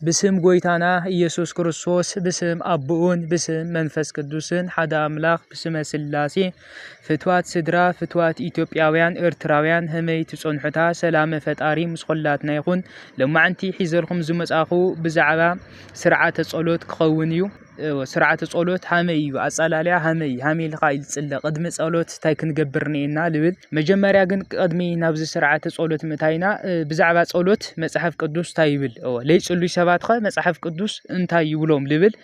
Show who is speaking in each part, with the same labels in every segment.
Speaker 1: ብስም ጎይታና ኢየሱስ ክርስቶስ ብስም ኣቦኡን ብስም መንፈስ ቅዱስን ሓደ ኣምላኽ ብስመ ስላሴ ፍትዋት ስድራ ፍትዋት ኢትዮጵያውያን ኤርትራውያን ህመይ ትጸንሑታ ሰላመ ፈጣሪ ምስ ኹላትና ይኹን ሎማዕንቲ ሒዘልኩም ዝመጻኹ ብዛዕባ ስርዓተ ጸሎት ክኸውን እዩ እወ ስርዓተ ጸሎት ሃመይ እዩ ኣጸላልያ ሃመይ ሃመይ ኢልካ እዩ ዝጽለ ቅድሚ ጸሎት እንታይ ክንገብር ኔና ልብል መጀመርያ ግን ቅድሚ ናብዚ ስርዓተ ጸሎት ምእታይና ብዛዕባ ጸሎት መጽሓፍ ቅዱስ እንታይ ይብል እወ ለይጽሉይ ሰባት ኸ መጽሓፍ ቅዱስ እንታይ ይብሎም ልብል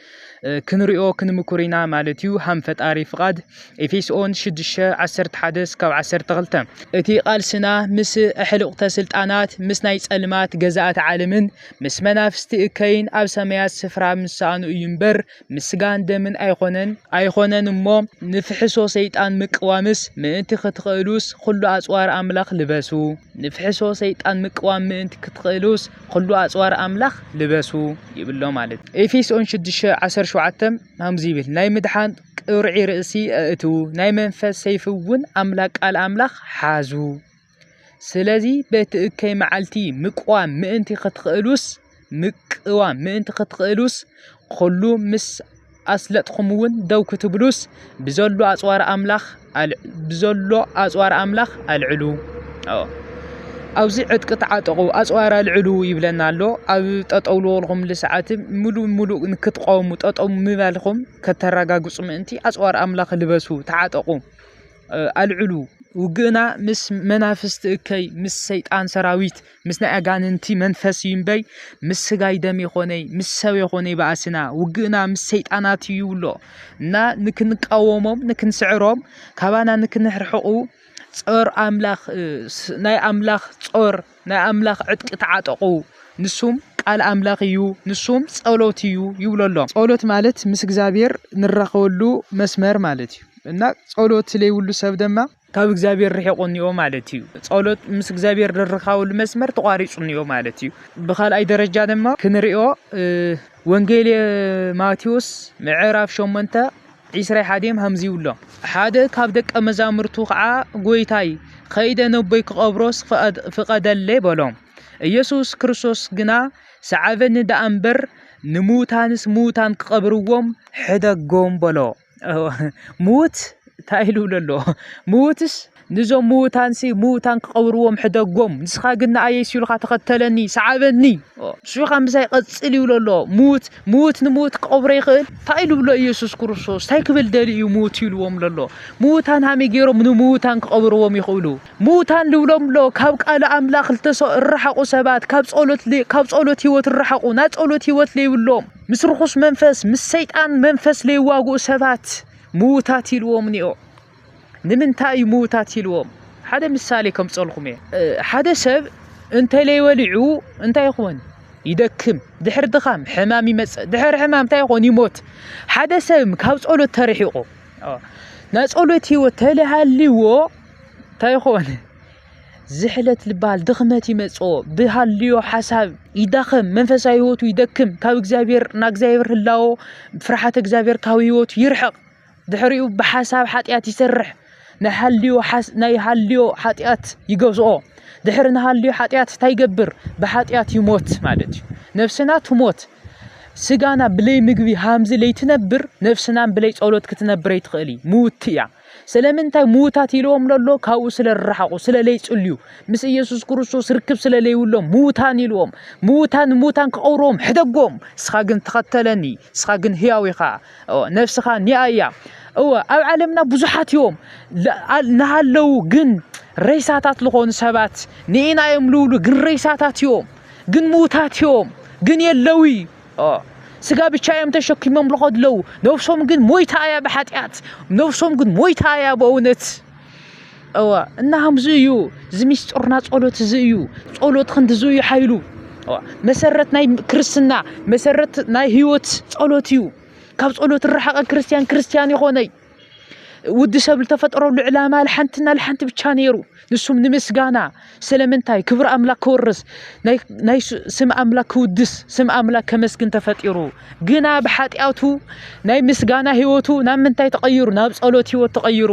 Speaker 1: ክንሪኦ ክንምኩር ኢና ማለት እዩ ሃም ፈጣሪ ፍቓድ ኤፌሶን 6 11 ስካብ 12 እቲ ቃልስና ምስ ኣሕልቕተ ስልጣናት ምስ ናይ ጸልማት ገዛእት ዓለምን ምስ መናፍስቲ እከይን ኣብ ሰማያት ስፍራ ምስ ሰኣኑ እዩ እምበር ምስ ስጋን ደምን ኣይኮነን ኣይኮነን እሞ ንፍሕሶ ሰይጣን ምቅዋምስ ምእንቲ ክትኽእሉስ ኹሉ ኣጽዋር ኣምላኽ ልበሱ ንፍሕሶ ሰይጣን ምቅዋም ምእንቲ ክትኽእሉስ ኹሉ ኣጽዋር ኣምላኽ ልበሱ ይብሎ ማለት ኤፌሶን 6:17 ከምዚ ይብል ናይ ምድሓን ቅርዒ ርእሲ ኣእትዉ ናይ መንፈስ ሰይፊ እውን ኣምላኽ ቃል ኣምላኽ ሓዙ ስለዚ በቲ እከይ መዓልቲ ምቅዋም ምእንቲ ክትክእሉስ ምቅዋም ምእንቲ ክትክእሉስ ኹሉ ምስ ኣስለጥኹምውን ደው ክትብሉስ ብዘሎ ኣጽዋር ኣምላኽ ብዘሎ ኣጽዋር ኣምላኽ ኣልዕሉ ኣብዚ ዕጥቂ ተዓጠቑ ኣጽዋር ኣልዕሉ ይብለና ኣሎ ኣብ ጠጠው ልበልኹም ልሰዓት ምሉእ ምሉእ ንክትቐውሙ ጠጠው ምባልኹም ከተረጋግጹ ምእንቲ ኣጽዋር ኣምላኽ ልበሱ ተዓጠቑ ኣልዕሉ ውግእና ምስ መናፍስቲ እከይ ምስ ሰይጣን ሰራዊት ምስ ናይ ኣጋንንቲ መንፈስ እዩ እምበይ ምስ ስጋይ ደም የኾነይ ምስ ሰብ የኾነይ በኣስና ውግእና ምስ ሰይጣናት እዩ ይብሎ እና ንክንቃወሞም ንክንስዕሮም ካባና ንክንርሕቁ ጾር ኣምላኽ ናይ ኣምላኽ ጾር ናይ ኣምላኽ ዕጥቂ ተዓጠቑ ንሱም ቃል ኣምላኽ እዩ ንሱም ጸሎት እዩ ይብሎ ኣሎ ጸሎት ማለት ምስ እግዚኣብሔር ንራኸበሉ መስመር ማለት እዩ እና ጸሎት ለይብሉ ሰብ ደማ ካብ እግዚኣብሔር ርሒቑ እኒኦ ማለት እዩ ጸሎት ምስ እግዚኣብሔር ንርካበሉ መስመር ተቋሪጹ እኒኦ ማለት እዩ ብካልኣይ ደረጃ ድማ ክንሪኦ ወንጌል ማቴዎስ ምዕራፍ ሸሞንተ ዒስራይ ሓደም ሃምዚ ይብሎ። ሓደ ካብ ደቀ መዛሙርቱ ኸዓ ጎይታይ ኸይደ ነቦይ ክቐብሮስ ፍቐደለይ በሎ። ኢየሱስ ክርስቶስ ግና ሰዓበኒ ደኣ እምበር ንምዉታንስ ምዉታን ክቐብርዎም ሕደጎም በሎ። ምዉት እንታይ ኢሉ ኣሎ? ምዉትስ ንዞም ምዉታንሲ ምዉታን ክቐብርዎም ሕደጎም፣ ንስኻ ግን ንኣይ የሱ ኢልካ ተኸተለኒ፣ ሰዓበኒ። ንሱ ኸኣ ምሳይ ቐጽል ይብሎ ኣሎ። ምዉት ምዉት ንምዉት ክቐብሮ ይኽእል? እንታይ ኢሉ ብሎ ኢየሱስ ክርስቶስ? እንታይ ክብል ደልዩ እዩ ምዉት ኢልዎም ዘሎ? ምዉታን ሃመይ ገይሮም ንምዉታን ክቐብርዎም ይኽእሉ? ምዉታን ልብሎም ኣሎ ካብ ቃል ኣምላኽ ልተሰ እረሓቑ ሰባት፣ ካብ ጸሎት ካብ ጸሎት ህይወት እረሓቑ፣ ናይ ጸሎት ህይወት ለይብሎም፣ ምስ ርኹስ መንፈስ፣ ምስ ሰይጣን መንፈስ ለይዋግኡ ሰባት ምዉታት ኢልዎም እኒኦ። ንምንታይ እዩ ምውታት ኢልዎም ሓደ ምሳሌ ከምፀልኹም እየ ሓደ ሰብ እንተለይበሊዑ እንታይ ይኾን ይደክም ድሕር ድኻም ሕማም ይመፅእ ድሕር ሕማም እንታይ ይኾን ይሞት ሓደ ሰብ ካብ ፀሎት ተርሒቑ ናይ ፀሎት ህይወት ተለሃልዎ እንታይ ይኾን ዝሕለት ልባል ድኽመት ይመፆ ብሃልዮ ሓሳብ ይዳኸም መንፈሳዊ ህይወቱ ይደክም ካብ እግዚኣብሔር ናብ እግዚኣብሔር ህላዎ ፍርሓት እግዚኣብሔር ካብ ህይወቱ ይርሕቕ ድሕሪኡ ብሓሳብ ሓጢኣት ይሰርሕ ናይ ሃልዮ ናይ ሃልዮ ሓጢኣት ይገዝኦ ድሕሪ ንሃልዮ ሓጢኣት እንታይ ይገብር ብሓጢኣት ይሞት ማለት እዩ ነፍስና ትሞት ስጋና ብለይ ምግቢ ሃምዚ ለይትነብር ነፍስናን ብለይ ጸሎት ክትነብር ኣይትኽእል እዩ ምውቲ እያ ስለምንታይ ምውታት ኢልዎም ለሎ ካብኡ ስለ ዝረሓቑ ስለ ለይጽልዩ ምስ ኢየሱስ ክርስቶስ ርክብ ስለ ለይብሎም ምውታን ኢልዎም ምውታን ምውታን ክቐብርዎም ሕደጎም ንስኻ ግን ተኸተለኒ ንስኻ ግን ህያው ኢኻ እወ ነብስኻ ኒኣ እያ እወ ኣብ ዓለምና ብዙሓት እዮም ናሃለዉ ግን ረይሳታት ዝኾኑ ሰባት ንኢና እዮም ልብሉ ግን ረይሳታት እዮም ግን ምዉታት እዮም ግን የለዊ ስጋ ብቻ እዮም ተሸኪሞም ልኸዱ ኣለዉ ነብሶም ግን ሞይታ እያ ብሓጢኣት ነብሶም ግን ሞይታ እያ ብእውነት እወ እና ከምዚ እዩ እዚ ሚስጥርና ጸሎት እዚ እዩ ጸሎት ክንዲዚ እዩ ሓይሉ መሰረት ናይ ክርስትና መሰረት ናይ ህይወት ጸሎት እዩ ካብ ጸሎት ርሓቐ ክርስትያን ክርስትያን ይኾነይ ውዲ ሰብ ዝተፈጠረሉ ዕላማ ልሓንትና ልሓንቲ ብቻ ነይሩ ንሱም ንምስጋና ስለምንታይ ክብሪ ኣምላክ ክወርስ ናይ ስም ኣምላክ ክውድስ ስም ኣምላክ ከመስግን ተፈጢሩ ግና ብሓጢኣቱ ናይ ምስጋና ህይወቱ ናብ ምንታይ ተቐይሩ ናብ ጸሎት ህይወት ተቐይሩ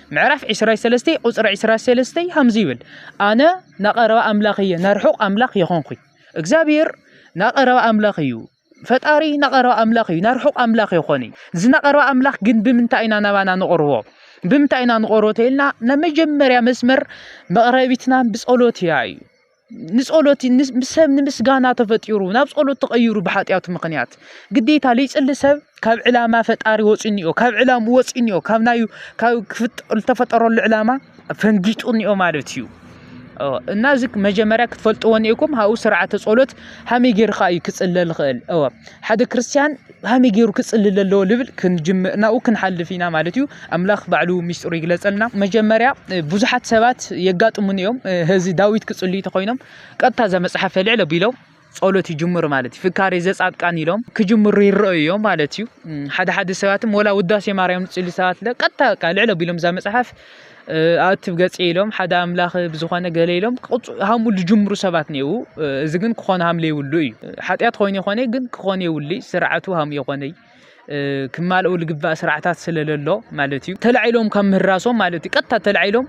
Speaker 1: ምዕራፍ ዕስራይ ሰለስተይ ቁፅሪ ዕስራ ሰለስተይ ከምዚ ይብል ኣነ ናቀረባ ኣምላኽ እየ ናርሑቕ ኣምላኽ የኾንኩኝ እግዚኣብሔር ናቀረባ ኣምላኽ እዩ ፈጣሪ ናቀረባ ኣምላኽ እዩ ናርሑቕ ኣምላኽ የኾን እዩ እዚ ናቀረባ ኣምላኽ ግን ብምንታይ ኢና ናባና ንቕርቦ ብምንታይ ኢና ንቕርቦ ተይልና ናይ መጀመርያ መስመር መቕረቢትና ብፀሎት እያ እዩ ንጸሎት ሰብ ንምስጋና ተፈጢሩ ናብ ጸሎት ተቐይሩ ብሓጢኣቱ ምኽንያት ግዴታ ዘይጽሊ ሰብ ካብ ዕላማ ፈጣሪ ወፂኡ እኒኦ ካብ ዕላሙ ወፂኡ እኒኦ ካብ ናይ ካብ ዝተፈጠረሉ ዕላማ ፈንጊጡ እኒኦ ማለት እዩ እና እዚ መጀመርያ ክትፈልጥዎ እኒኦኩም ሃብኡ ስርዓተ ጸሎት ሃመይ ጌርካ እዩ ክጽለ ዝኽእል እወ ሓደ ክርስትያን ብኸመይ ገይሩ ክፅልል ኣለዎ ልብል ናብኡ ክንሓልፍ ኢና ማለት እዩ ኣምላኽ ባዕሉ ሚስጥሩ ይግለፀልና መጀመርያ ብዙሓት ሰባት የጋጥሙን እዮም እዚ ዳዊት ክፅልዩ ተኮይኖም ቀጥታ እዛ መፅሓፍ ልዕል ኣቢሎም ጸሎት ይጅምሩ ማለት እዩ ፍካሬ ዘጻድቃን ኢሎም ክጅምሩ ይረአዩ እዮም ማለት እዩ ሓደ ሓደ ሰባትም ወላ ውዳሴ ማርያም ዝፅሊ ሰባት ቀጥታ ልዕል ኣቢሎም እዛ መፅሓፍ ኣእትብ ገፅ ኢሎም ሓደ ኣምላኽ ብዝኾነ ገለ ኢሎም ሃሙ ዝጅምሩ ሰባት ነይው እዚ ግን ክኾነ ሃም ለይብሉ እዩ ሓጢኣት ኮይኑ ይኾነ ግን ክኾነ የብሉ ስርዓቱ ሃም የኾነይ ክማልኡ ልግባእ ስርዓታት ስለለሎ ማለት እዩ ተላዒሎም ካብ ምህራሶም ማለት እዩ ቀጥታ ተላዒሎም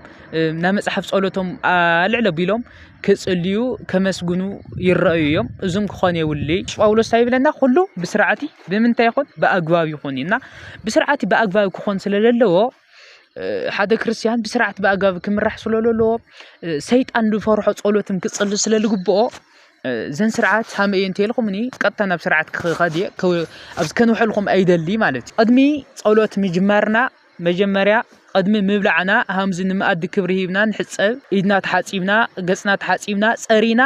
Speaker 1: ናይ መፅሓፍ ፀሎቶም ኣልዕለ ቢሎም ክፅልዩ ከመስግኑ ይረኣዩ እዮም እዙም ክኾነ የብሉ ጳውሎስ ታይ ይብለና ኩሉ ብስርዓቲ ብምንታይ ይኹን ብኣግባብ ይኹን እና ብስርዓቲ ብኣግባብ ክኾን ስለለለዎ ሓደ ክርስትያን ብስርዓት ብኣጋብ ክምራሕ ስለ ዘለዎ ሰይጣን ዝፈርሖ ጸሎትን ክጽሊ ስለ ዝግብኦ ዘን ስርዓት ሃመ እየ እንተልኩም እኒ ቀጥታ ናብ ስርዓት ክኸድ እየ ኣብዚ ከንውሐልኩም ኣይደሊ ማለት እዩ ቅድሚ ጸሎት ምጅማርና መጀመርያ ቅድሚ ምብላዕና ሃምዚ ንመኣዲ ክብሪ ሂብና ንሕጸብ ኢድና ተሓጺብና ገጽና ተሓጺብና ጸሪና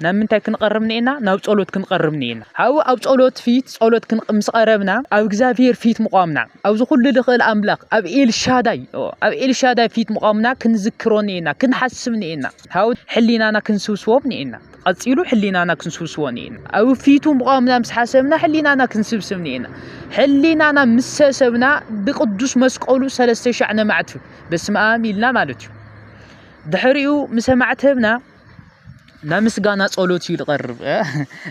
Speaker 1: ናብ ምንታይ ክንቐርብ ኒኤና? ናብ ጸሎት ክንቐርብ ኒኤና። ሓው ኣብ ጸሎት ፊት ጸሎት ክንቅ ምስ ቐረብና ኣብ እግዚኣብሔር ፊት ምቛምና ኣብዚ ኩሉ ልኽእል ኣምላኽ ኣብ ኤልሻዳይ ኣብ ኤልሻዳይ ፊት ምቛምና ክንዝክሮ ኒኤና ክንሓስብ ኒኤና ሓው ሕሊናና ክንስብስቦ ኒኤና ቐጺሉ ሕሊናና ክንስብስቦ ኒኤና ኣብ ፊቱ ምቛምና ምስ ሓሰብና ሕሊናና ክንስብስብ ኒኤና ሕሊናና ምስ ሰሰብና ብቅዱስ መስቀሉ ሰለስተ ሻዕ ነማዕትብ በስመ ኣም ኢልና ማለት እዩ ድሕሪኡ ምስ ኣማዕተብና ናይ ምስጋና ጸሎት እዩ ዝቐርብ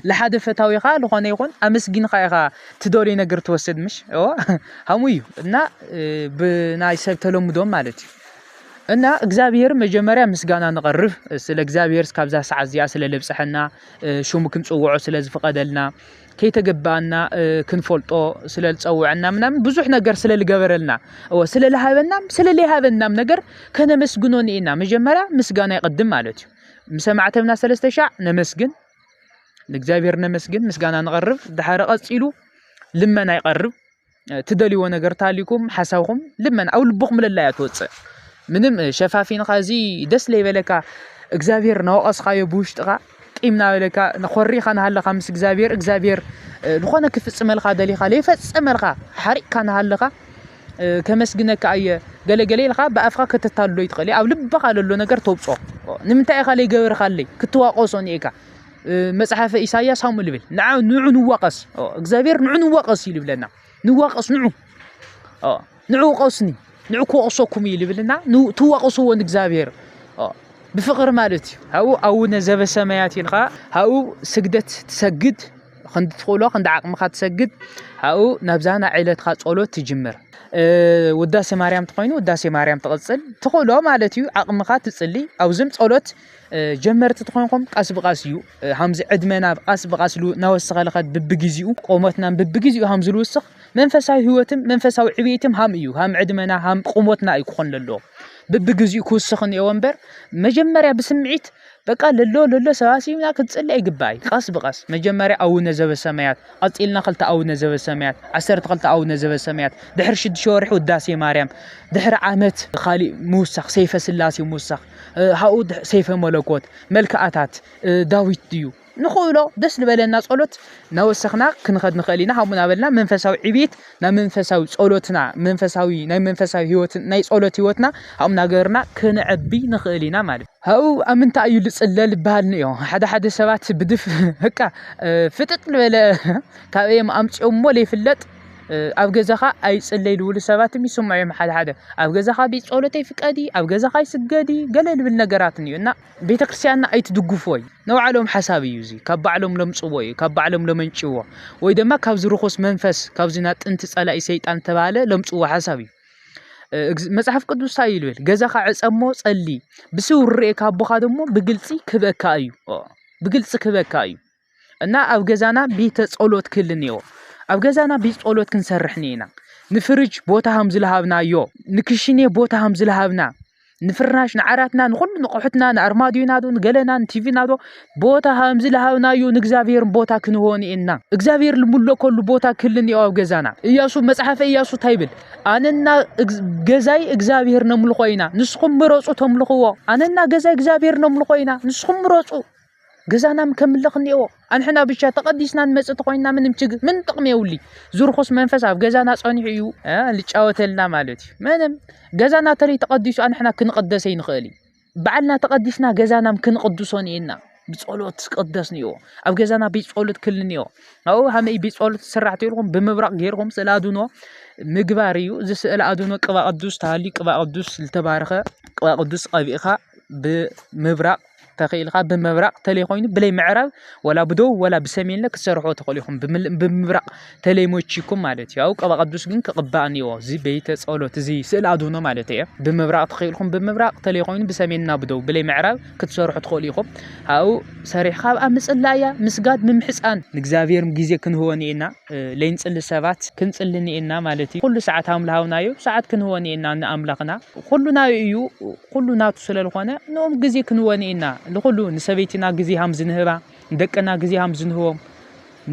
Speaker 1: ንሓደ ፈታዊኻ ዝኾነ ይኹን ኣመስጊንካ ኢኻ ትደልዮ ነገር ትወስድ ምሽ ሃሙ እዩ እና ብናይ ሰብ ተለምዶ ማለት እዩ እና እግዚኣብሔር መጀመርያ ምስጋና ንቐርብ ስለ እግዚኣብሔር እስካብዛ ሰዓት እዚኣ ስለ ለብፀሐና ሽሙ ክንፅውዖ ስለ ዝፍቐደልና ከይተገበኣና ክንፈልጦ ስለ ዝፀወዐና ምናምን ብዙሕ ነገር ስለ ዝገበረልና እወ ስለ ዝሃበናም ስለ ዘይሃበናም ነገር ከነመስግኖ ንኢና መጀመርያ ምስጋና ይቐድም ማለት እዩ ምስ ኣማዕተብና ሰለስተ ሻዕ ነመስግን ንእግዚኣብሔር ነመስግን ምስጋና ንቐርብ ድሓረ ቀፂሉ ልመና ይቐርብ ትደልይዎ ነገር ተሃልዩኩም ሓሳብኩም ልመና ኣብ ልብኩም ለላ እያ ትወፅእ ምንም ሸፋፊንካ እዚ ደስ ለይበለካ እግዚኣብሔር ናወቀስካዮ ብውሽጥካ ቂም ናበለካ ኮሪካ ናሃለካ ምስ እግዚኣብሔር እግዚኣብሔር ዝኾነ ክፍፅመልካ ደሊካ ለይፈፀመልካ ሓሪቅካ ናሃለካ ከመስግነካ እየ ገለ ገለ ኢልካ ብኣፍካ ከተታልሎ ይትኽእል እየ ኣብ ልብካ ለሎ ነገር ተውፅኦ ንምንታይ ኢካ ለይገበርካለይ ክትዋቀሶ እኒኤካ። መጽሓፈ ኢሳያስ ከምኡ ልብል ንዓ ንዑ ንዋቀስ እግዚኣብሔር ንዑ ንዋቀስ እዩ ልብለና ንዋቀስ ንዑ ንዑ ቀስኒ ንዑ ክወቅሰኩም እዩ ልብልና ትዋቀስዎ ንእግዚኣብሔር ብፍቅሪ ማለት እዩ ኣብኡ ኣቡነ ዘበሰማያት ኢልካ ኣብኡ ስግደት ትሰግድ ክንዲ ትኽእሎ ክንዲ ዓቅምኻ ትሰግድ ኣብኡ ናብዛ ናይ ዕለትካ ጸሎት ትጅምር ውዳሴ ማርያም ተኾይኑ ውዳሴ ማርያም ትቕጽል ትኽእሎ ማለት እዩ ዓቅምኻ ትጽሊ ኣብዚም ጸሎት ጀመርቲ ትኾንኩም ቃስ ብቃስ እዩ ሃምዚ ዕድመና ቃስ ብቃስ ሉ ናወሰኸ ልኸድ ብብጊዜኡ ቆሞትና ብብጊዜኡ ሃም ዝልውስኽ መንፈሳዊ ህይወትም መንፈሳዊ ዕብየትም ሃም እዩ ሃም ዕድመና ሃም ቁሞትና እዩ ክኾን ለሎ ብብጊዜኡ ክውስኽ እኒኤዎ እምበር መጀመርያ ብስምዒት በቃ ለሎ ለሎ ሰባሲብና ክትፅሊ ኣይግባይ ቃስ ብቃስ መጀመርያ ኣውነ ዘበሰማያት ቀፂልና ክልተ ኣውነ ዘበሰማያት ዓሰርተ ክልተ ኣውነ ዘበሰማያት ድሕሪ ሽዱሽተ ወርሒ ውዳሴ ማርያም ድሕሪ ዓመት ካሊእ ምውሳኽ ሰይፈ ስላሴ ምውሳኽ ሃኡ ሰይፈ መለኮት መልክኣታት ዳዊት ድዩ ንኽእሎ ደስ ዝበለና ጸሎት ናወሰኽና ክንኸድ ንኽእል ኢና ሃቡና በልና መንፈሳዊ ዕቤት ናብ መንፈሳዊ ጸሎትና መንፈሳዊ ናይ መንፈሳዊ ህይወት ናይ ጸሎት ህይወትና ሃኡ ናገርና ክንዕቢ ንኽእል ኢና ማለት ሃኡ ኣብ ምንታይ እዩ ልጽለ ልበሃል ንዮ ሓደ ሓደ ሰባት ብድፍ ህቃ ፍጥጥ ዝበለ ካብ እዮም ኣምጺኦሞ ዘይፍለጥ ኣብ ገዛኻ ኣይጽለይ ዝብሉ ሰባት ይስምዑ እዮም ሓደ ሓደ ኣብ ገዛኻ ቤት ጸሎት ኣይፍቀዲ ኣብ ገዛኻ ኣይስገዲ ገለ ዝብል ነገራት እዩ እና ቤተ ክርስቲያንና ኣይትድግፍዎ እዩ ናይ ባዕሎም ሓሳብ እዩ እዚ ካብ ባዕሎም ለምጽዎ እዩ ካብ ባዕሎም ለመንጭዎ ወይ ድማ ካብዚ ርኹስ መንፈስ ካብዚ ናይ ጥንቲ ጸላኢ ሰይጣን ተባሃለ ለምጽዎ ሓሳብ እዩ መጽሓፍ ቅዱስ እንታይ እዩ ዝብል ገዛኻ ዕጸሞ ጸሊ ብስውር ርኤካ ኣቦኻ ደግሞ ብግልጺ ክበካ እዩ ብግልጺ ክበካ እዩ እና ኣብ ገዛና ቤተ ጸሎት ክህል እኒኦ ኣብ ገዛና ቤት ጸሎት ክንሰርሕ እኒና ንፍርጅ ቦታ ሃም ዝለሃብናዮ ንክሽኔ ቦታ ሃም ዝለሃብና ንፍርናሽ ንዓራትና ንኹሉ ንቑሑትና ንኣርማድዮና ዶ ንገለና ንቲቪና ዶ ቦታ ሃም ዝለሃብናዮ ንእግዚኣብሔር ቦታ ክንሆ እኒና እግዚኣብሔር ልምለከሉ ቦታ ክህል እኒኦ ኣብ ገዛና እያሱ መጽሓፈ እያሱ እንታይ ይብል ኣነና እግ- ገዛይ እግዚኣብሔር ነምልኾ ኢና ንስኹም ምረጹ ተምልኽዎ ኣነና ገዛይ እግዚኣብሔር ነምልኾ ኢና ንስኹም ምረጹ ገዛናም ከምልኽ እኒኦ ኣንሕና ብቻ ተቐዲስና ንመፅእ ተኾይንና ምንም ችግር ምን ጥቕሚ የውሊ ዝርኹስ መንፈስ ኣብ ገዛና ፀኒሑ እዩ ልጫወተልና ማለት እዩ ምንም ገዛና ተለይ ተቐዲሱ ኣንሕና ክንቐደሰ ይንኽእል እዩ በዓልና ተቐዲስና ገዛናም ክንቕድሶ እኒኤና ብፀሎት ቅደስ እኒኦ ኣብ ገዛና ቤት ፀሎት ክል እኒኦ ኣብኡ ሃመይ ቤት ፀሎት ስራሕ ተልኩም ብምብራቕ ገይርኩም ስእለ ኣድኖ ምግባር እዩ እዚ ስእለ ኣድኖ ቅባ ቅዱስ ተሃልዩ ቅባ ቅዱስ ዝተባረኸ ቅባ ቅዱስ ቀቢእኻ ብምብራቕ ተኽኢልካ ብምብራቕ ተለይ ኮይኑ ብለይ ምዕራብ ወላ ብደቡብ ወላ ብሰሜንለ ክትሰርሖ ትኽእሉ ኢኹም ብምብራቕ ተለይ ሞቺኩም ማለት እዩ ኣብኡ ቅባ ቅዱስ ግን ክቕባእ እኒኦ እዚ ቤተ ጸሎት እዚ ስእሊ ኣድህኖ ማለት እየ ብምብራቕ ተኽኢልኩም ብምብራቕ ተለይ ኮይኑ ብሰሜንና ብደቡብ ብለይ ምዕራብ ክትሰርሑ ትኽእሉ ኢኹም ኣብኡ ሰሪሕካ ኣብኣ ምጽላእ እያ ምስጋድ ምምሕፃን ንእግዚኣብሔር ግዜ ክንህቦ ኒኤና ለይንጽሊ ሰባት ክንጽሊ ኒኤና ማለት እዩ ኩሉ ሰዓት ኣምላሃውና እዩ ሰዓት ክንህቦ ኒኤና ንኣምላኽና ኩሉና እዩ ኹሉ ናቱ ስለልኾነ ንኦም ግዜ ክንወን ኢና ንኹሉ ንሰበይትና ግዜ ሃም ዝንህባ ንደቅና ግዜ ሃም ዝንህቦም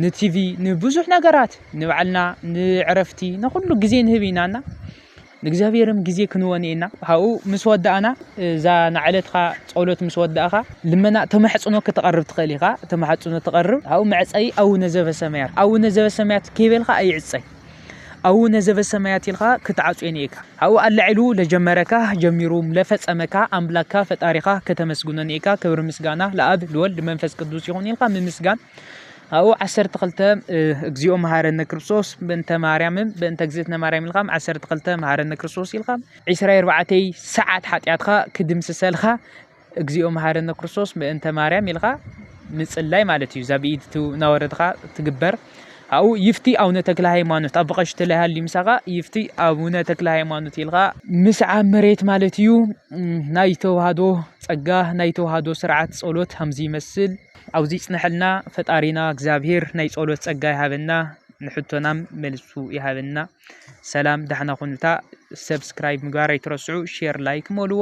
Speaker 1: ንቲቪ ንብዙሕ ነገራት ንባዕልና ንዕረፍቲ ንኹሉ ግዜ ንህብ ኢና እና ንእግዚኣብሔርም ግዜ ክንወን ኢና ካብኡ ምስ ወዳእና እዛ ናዕለትካ ጸሎት ምስ ወዳእካ ልመና ተማሕጽኖ ክትቐርብ ትኽእል ኢኻ ተማሕጽኖ ትቐርብ ኣብኡ መዕጸይ ኣውነ ዘበሰማያት ኣውነ ዘበሰማያት ከይበልካ ኣይዕጸይ ኣውነ ዘበሰማያት ኢልካ ክትዓጽዮ ኒኤካ ኣብኡ ኣላዒሉ ለጀመረካ ጀሚሩ ለፈጸመካ ኣምላካ ፈጣሪካ ከተመስግኖ ኒኤካ ክብሪ ምስጋና ለኣብ ልወልድ መንፈስ ቅዱስ ይኹን ኢልካ ምምስጋን ኣብኡ ዓሰርተ ክልተ እግዚኦ መሃረነ ክርስቶስ በእንተ ማርያምን በእንተ እግዝእትነ ማርያም ኢልካ ዓሰርተ ክልተ መሃረነ ክርስቶስ ኢልካ ዕስራ ኣርባዕተይ ሰዓት ሓጢኣትካ ክድምስሰልካ እግዚኦ መሓረነ ክርስቶስ ምእንተ ማርያም ኢልካ ምጽላይ ማለት እዩ። እዛ ብኢድ እናወረድካ ትግበር ኣብኡ ይፍቲ ኣቡነ ተክለ ሃይማኖት ኣብ ቀሽቲ ላይ ሃልዩ ምሳኻ ይፍቲ ኣቡነ ተክለ ሃይማኖት ኢልካ ምስዓብ መሬት ማለት እዩ። ናይ ተዋህዶ ጸጋ ናይ ተዋህዶ ስርዓት ጸሎት ከምዚ ይመስል። ኣብዚ ይጽንሐልና ፈጣሪና እግዚኣብሄር ናይ ጸሎት ጸጋ ይሃበና። ንሕቶናም መልሱ ይሃበና። ሰላም ዳሕና ኩኑታ። ሰብስክራይብ ምግባር ኣይትረስዑ፣ ሼር ላይክ መልዎ።